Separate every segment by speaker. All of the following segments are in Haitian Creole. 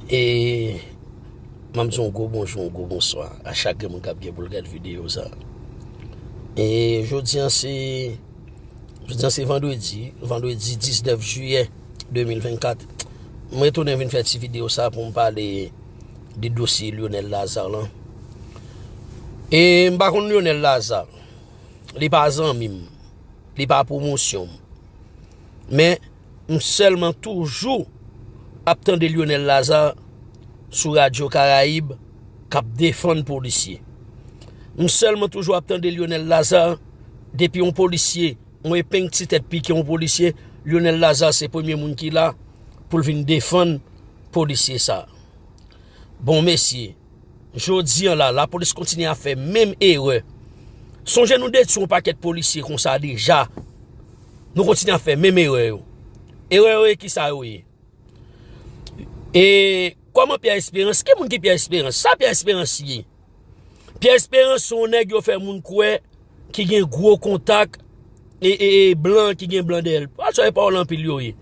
Speaker 1: E Map di yon gwo bonjou, yon gwo bonswa a chak gen moun kap gen poul gad videyo sa E jodi an se Jodi an se vandredi Vandredi 19 juyè 2024 Mwen tounen vin fè ti videyo sa pou m pale De dosye Lyonel Lazarre lan E m pa konn Lyonel Lazarre Li pa zanmi m Li pa pwomosyon m Men m sèlman toujou ap tande Lyonel Lazarre sou radyo karayib kap defann polisye m sèlman toujou ap tande Lyonel Lazarre depi yon polisye yon epeng ti tèt pike yon polisye Lyonel Lazarre se premye moun ki la pou l vin defann polisye sa bon mesye jodi an la lapolis kontinye a fè menm erè sonje nou detwi yon pakèt polisye konsa deja Nou kontinye ap fè menm erè yo. Erè yo e ki sa yo ye? E kòman Pierre Espérance, ki moun ki Pierre Espérance? Sa Pierre Espérance ye? Pierre Espérance se yon nèg yo fè moun kwè ki gen gwo kontak e e e blan ki gen blan dèyè l. Pawòl sa yo e pawòl anpil yo ye.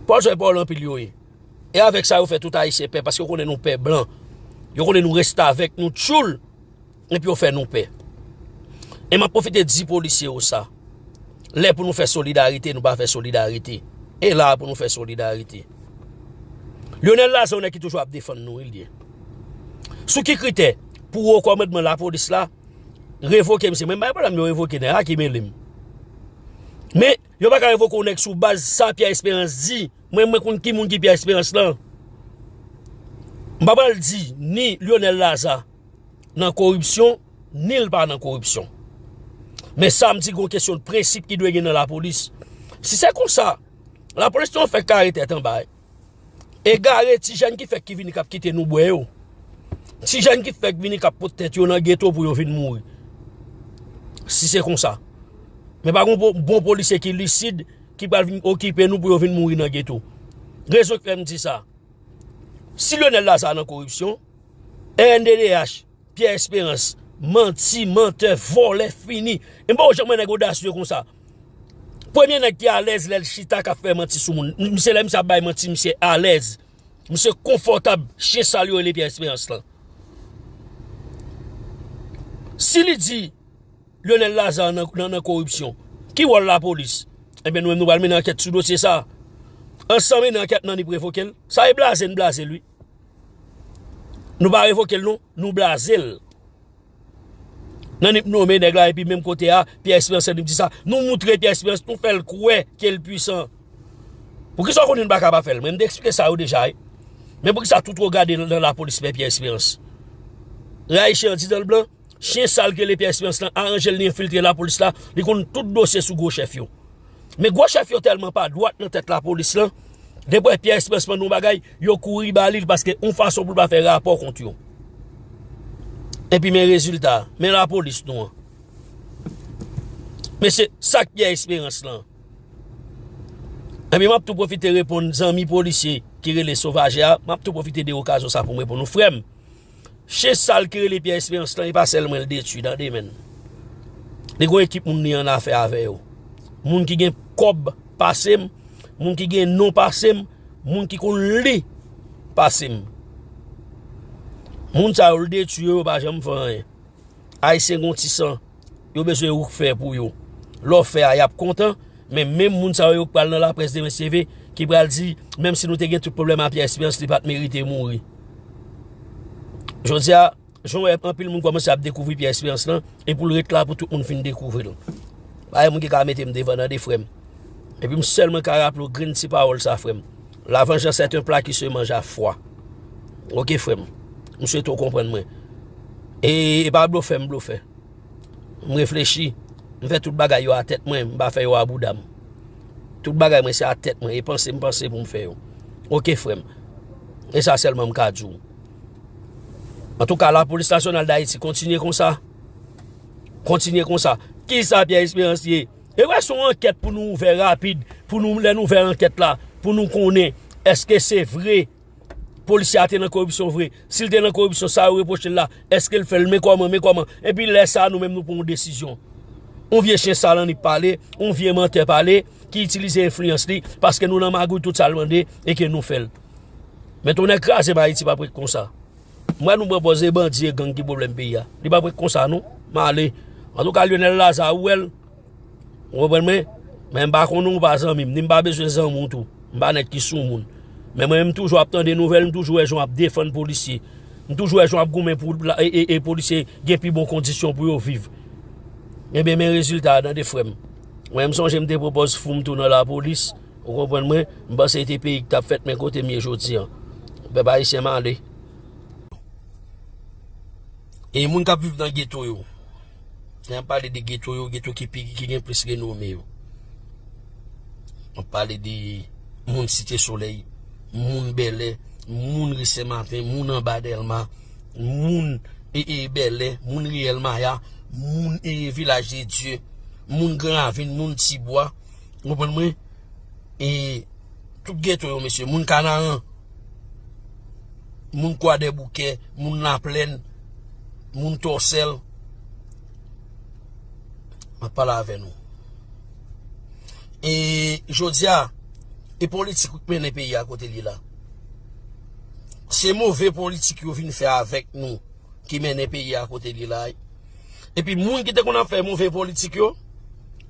Speaker 1: Pawòl sa yo e pawòl anpil yo ye. E avèk sa yo fè tout Ayisyen pè paske yo konnen nou pè blan. Yo konnen nou restavèk, nou tchoul. Epi yo fè nou pè. E map profite di polisye yo sa. Lè pou nou fè solidarite nou pa fè solidarite. E la pou nou fè solidarite. Lyonel la se yon nèg ki toujou ap defann nou wi li ye. Sou ki kritè pou wo kòmandman la polis la revoke misye. Mwen bay pwoblèm yo revoke nèg la ki mele m. Men yo pa ka revoke yon nèg sou baz sa Pierre Esperance di. Mwen mwen konn ki moun ki Pierre Esperance lan. M pa pral di ni Lyonel Lazarre. nan koripsyon, ni l pa nan koripsyon. Men sa m di gon kesyon de prensip ki dwe gen nan lapolis. Si se konsa, lapolis nou an fèk kare tèt anba e. Egare ti jèn ki fèk ki vini k ap kite nou bwè yo. Ti jèn ki fèk vini k ap pot tèt yo nan geto pou yo vin mouri. Si se konsa. Men pa gon bon polisye ki lisid ki pral vin okipe nou pou yo vin mouri nan geto. Rezon k fè m di sa. Si Lyonel Lazarre nan koripsyon, Rnddh Pierre Esperance manti mantè vòlè fini m poko janm wè nèg odasye konsa premye nèg ki alèz lèl chita kap fè manti sou moun misye lè misye ap bay manti misye alèz misye konfòtab chyen sal yo rele Pierre Esperance lan si li di Lionel Lazarre nan koripsyon ki wòl lapolis ebyen nou menm nou pral mennen ankèt sou dosye sa ansanm mennen ankèt nan ni prevokel sa e blaze n blazel wi. Nou pa revokel non, nou blazel. Nan nip nome neg la epi menm kote a, Pierre Esperance nip di sa. Nou moutre Pierre Esperance, nou fel kwe ke l pwisan. Pou kisa w konnen nou pa ka pa fel? Mwen m te eksplike sa yo deja wi. Men pou kisa tout regade nan lapolis men Pierre Esperance. Rayi chen an di dan l blan? Chyen sal ki rele Pierre Esperance lan aranjel li enfiltre lapolis la, li konn tout dosye sou gwo chèf yo. Men gwo chèf yo tèlman pa dwat nan tèt lapolis lan, depi wè Pierre Esperance mande yon bagay, yo kouri ba li l paske yon fason pou l pa fè rapò kont yo. Epi men rezilta, men lapolis nou an. Mesye, sa k Pierre Esperance lan? Epi m ap tou pwofite reponn zanmi polisye ki rele Sauvager a, m ap tou pwofite de okazyon sa pou m reponn nou, frè m, Chen sal ki rele Pierre Esperance lan e pa sèl mwen l detwi tande menn. Li gon ekip moun li an afè avè yo. Moun ki gen kòb pase m, moun ki gen non pase m, moun ki konn li pase m. Moun sa yo l detwi yo yo pa janm fè anyen. Ayisyen gen yon ti san yo bezwen ou k fè pou yo. Lè w fè a, y ap kontan. Men menm moun sa yo yo k pral nan laprès demen CV ki pral di menm si nou te gen tout pwoblèm a Pyè Esperans li pa t merite mouri. Jodi a, jan w wè anpil moun kòmanse ap dekouvri Pyè Esperans lan e pou l ret la pou tout moun fin dekouvri l. Pa gen moun ki ka mete m devan nan de frè m. Epi m sèlman ka raple w grenn ti pawòl sa frè m. La vengeance est un plat qui se mange à froid Ok frè m M swete w konprann mwen E e pa blofè m blofè M reflechi M fè tout bagay yo a tèt mwen M pa fè yo a bouda m Tout bagay mwen se a tèt mwen E panse m panse pou m fè yo Ok frè m E sa sèlman m ka di w Antouka la polis nasyonal dayiti kontinye konsa Kontinye konsa Kisa Pierre Esperance ye? E wè son ankèt pou nou ouvè rapid pou nou lè nou ouvè ankèt la pou nou konnen eske se vre polisye a te nan koripsyon vre si l te nan koripsyon sa yo repwoche l la eske l fè l men kòman men kòman epi lè sa nou menm nou pran yon desizyon yon vye chen sal annik pale yon vye mantè pale ki itilize enfliyans li paske nou nan magouy tout sa l mande e ke nou fè l men tonnè kraze m ayiti pa p ret konsa. M wè nou pran pòz e bandi e gang ki pwoblèm peyi a. Li pa pou konsa non. M ale. Antouka Lyonel Lazarre ou wè l. Ou konprann mwen? Men m pa konnen w pa zanmi m, ni m pa bezwen zanmi w tou. M pa nèg ki sou moun. Men mwen menm m toujou ap tande nouvèl, m toujou wè jan w ap defann polisye. M toujou wè jan w ap goumen pou e polisye gen pi bon kondisyon pou yo viv. Enben men rezilta a tande frè m. Mwen m sonje m te pran pòz fou m tou nan lapolis. Ou konprann mwen? M panse e te peyi k t ap fèt men kote m ye jodi an. Pèp ayisyen male. E moun k ap viv nan geto yo? Lè m pale de geto yo, geto ki gen plis renome yo. M ap pale de moun Site Solèy, moun Bèlè, moun Ri Senmaten, moun anba Dèlma, moun Bèlè, moun Riyèl Maya, moun Vilaj de Dye, moun Gran Ravin, moun Tibwa, Ou konprann mwen? E tout geto yo mesye, moun kanaran, moun kwadèboukè, moun laplèn, moun tòsèl, m ap pale avè nou. E jodi a, e politik ou k mennen peyi a kote l ye la? Se move politik yo vin fè avèk nou ki mennen peyi a kote l ye la. Epi moun ki te konn ap fè move politik yo,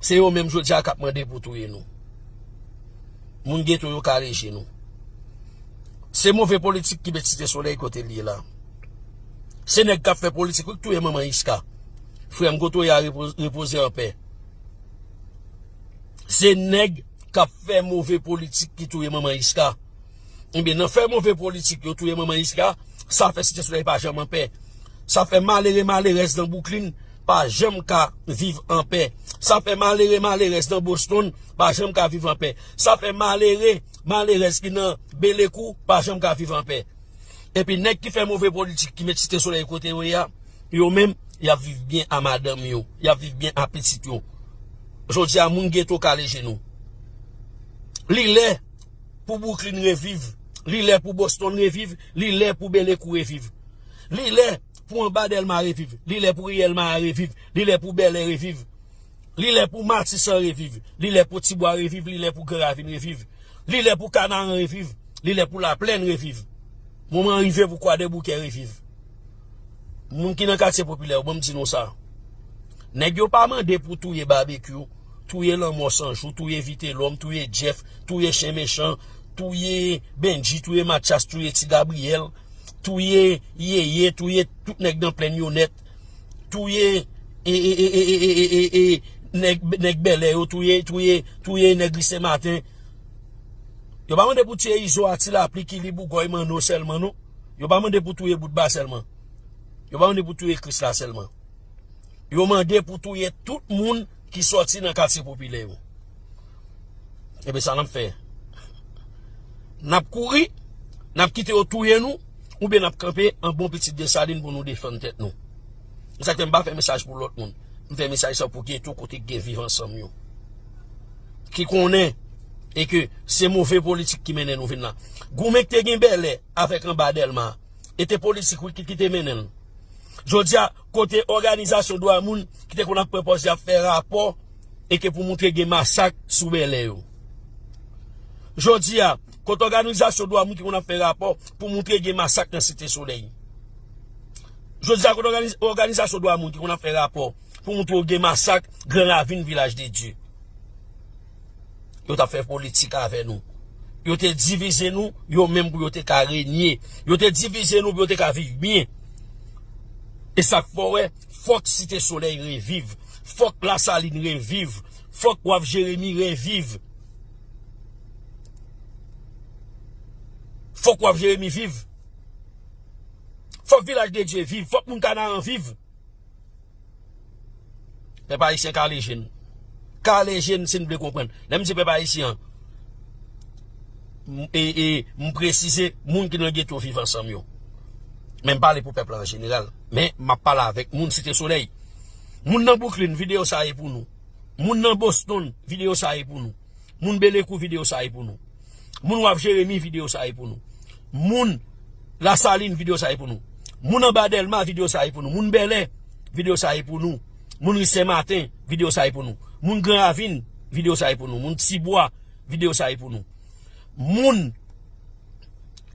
Speaker 1: se yo menm jodi a k ap mande pou touye nou. Moun geto yo kale je nou. Se move politik ki met Site Solèy kote li ye la. Se nèg k ap fè politik wi k touye manman Isca. Frè m Gotoya repoze an pè. Se nèg k ap fè move politik ki touye manman Isca. Ebyen nan fè move politik yo touye manman Isca sa fè Site Solèy pa janm anpè. Sa fè malere malerèz nan Bwouklin pa janm ka viv anpè. Sa fè malere malerèz nan Boston pa janm ka viv anpè. Sa fè malere malerèz ki nan Belekou pa janm ka viv anpè. Epi nèg ki fè move politik ki met Site Solèy kote yo ye a, yo menm y ap viv byen a madanm yo, y ap viv byen a pitit yo. Jodi a moun geto kale jenou. Li lè! Pou Brooklyn reviv, li lè pou Boston reviv, li lè pou Belekou reviv. Li lè pou anba Delma reviv, li lè pou Riyèl Maya reviv, li lè pou Bèlè reviv. Li lè pou Matisan reviv, li lè pou Tibwa reviv, li lè pou Gran Ravin reviv. Li lè pou Kanaran reviv, li lè pou Laplèn reviv. Moman an rive pou Kwadèboukè reviv. Moun ki nan katye popilè yo banm di nou sa Nèg yo pa mande pou touye Babekyou Touye lanmò san jou Touye Vitelòm Touye Jeff Touye Chen Mechan Touye Bendji Touye Matyas Touye Ti Gabriyèl Touye Yeye Touye tout nèg nan plenn yo nèt Touye Nèg Bèlè yo Touye Nèg Ri Senmaten Yo pa mande pou tiye Izo a Ti Lapli Kili Bougòy Manno sèlman non. Yo pa mande pou touye boutba sèlman. Yo pa mande pou touye kris la sèlman. Yo mande pou touye tout moun ki soti nan katye popilè yo. Ebe sa nap fè. Nap kouri, nap kite yo touye nou, oube nap kanpe an bon pitit de salin pou nou defann tèt nou. M sa kèm pa fè mesaj pou lòt moun. M fè mesaj sa pou geto kote gen viv ansanm yo. Ki konnen e ke se move politik ki mennen nou vin la. Goumen k te gen bèlè. avèk anba Dèlma. E te politik wi ki te mennen l. Jodi a, kote òganizasyon dwa moun ki te konn ap pran pòz y ap fè rapò e ke pou moutre gen masak sou Bèlè yo? Jodi a, kote òganizasyon dwa moun ki konn ap fè rapò pou moutre gen masak nan Site Solèy? Jodi a, kote òganizasyon dwa moun ki konn ap fè rapò pou moutre gen masak Gran Ravin, Vilaj de Dye? Yo tap fè politik avè nou. Yo te divize nou, yo menm pou yo te ka renye. Yo te divize nou pou yo te ka viv byen. E sak fè w wè, fòk Site Solèy reviv. Fòk Lasalin reviv. Fòk Waf Jeremi reviv. Fòk Waf Jeremi viv. Fòk Vilaj de Dye viv. Fòk moun Kanaran viv. Pèp ayisyen kale je n. Kale je n si n vle konprann. Lè m di pèp ayisyen an, e m presize moun ki nan geto viv ansanm yo. Men m pale pou pèp la an jeneral. Men m ap pale avèk moun site solèy. Moun nan Bouklin, videyo sa e pou nou. Moun nan Boston, videyo sa e pou nou. Moun belekou video sa e pou nou. Moun waf jeremi video sa e pou nou. Moun la saline video sa e pou nou. Moun anba delma video sa e pou nou. Moun belè video sa e pou nou. Moun ri sen maten video sa e pou nou. Moun gran ravine video sa e pou nou. Moun ti bwa video sa e pou nou. Moun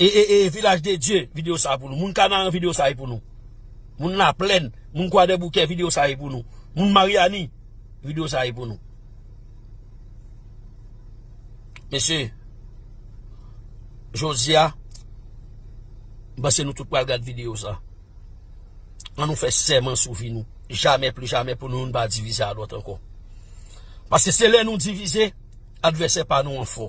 Speaker 1: e e e vilaj de die video sa e pou nou. Moun kanaran video sa e pou nou. Moun la plen moun kwa de bouke video sa e pou nou. Moun mariani video sa e pou nou. Mesye, jodi a, m panse nou tout pral gad videyo sa. An nou fè sèman sou vi nou. Jamè pli jamè pou nou youn pa divize a lòt ankò. Pase se lè nou divize, advèsè pa nou an fò.